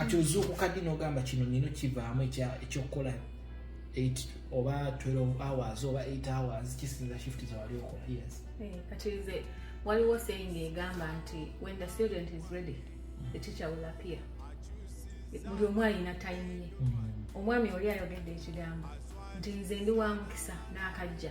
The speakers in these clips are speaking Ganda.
kati ozuukuka ddi n'ogamba kino nino kivaamu ekyokukola 8 oba 12 hours oba 8 hours kisinza shift zewali okola yes eh, kati nze waliwo saying egamba nti when the student is ready the teacher will appear buli omu alina time ye mm. omwami oli ayogedde ekigambo nti nze ndi wa mukisa n'akajja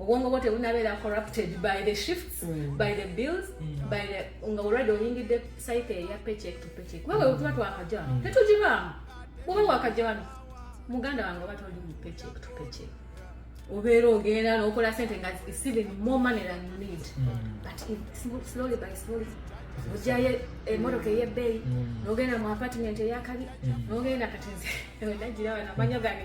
obwongo bwo tebunabeera corrupted by the shifts mm. by the bills mm. by the nga olwadde oyingidde site eya paycheck to paycheck wewe mm. tuba twakaja mm. tetugibaamu bwoba wakaja wano muganda wange oba toli mu paycheck to paycheck obeera ogenda nokola sente nga even more money than you need mm. but slowly by slowly ojayo emotoka eh, eyebbeeyi mm. nogenda mu apartment eyakabi mm. nogenda kati nze nagira wanamanyo gani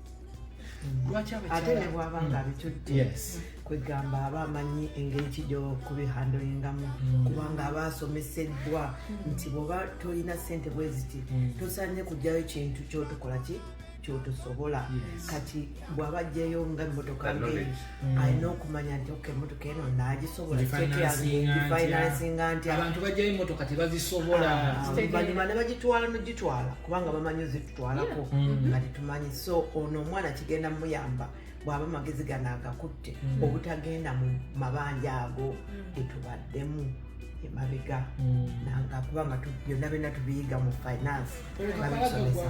ate ne bwaba nga mm. abitutte kwegamba aba amanyi engeri ki gyokubihandolingamu mm. kubanga aba asomeseddwa mm. nti bwoba tolina sente bweziti tosanye kugyayo kintu kyotukola ki kyotosobola kati bwaba ajjayo nga emotoka ngeri mm. alina okumanya nti ok emotoka eno nagisobolafinansinga nti abantu bajjayo emotoka tebazisoboluvanyuma ah, nebagitwala nogitwala kubanga bamanyi twalako mm. nga tetumanyi so ono omwana kigenda muyamba bwaba amagezi gano agakutte mm. obutagenda mu mabanja ago mm. getubaddemu emabega nanga kubanga byonna byonna tubiyiga mu finance babisomesa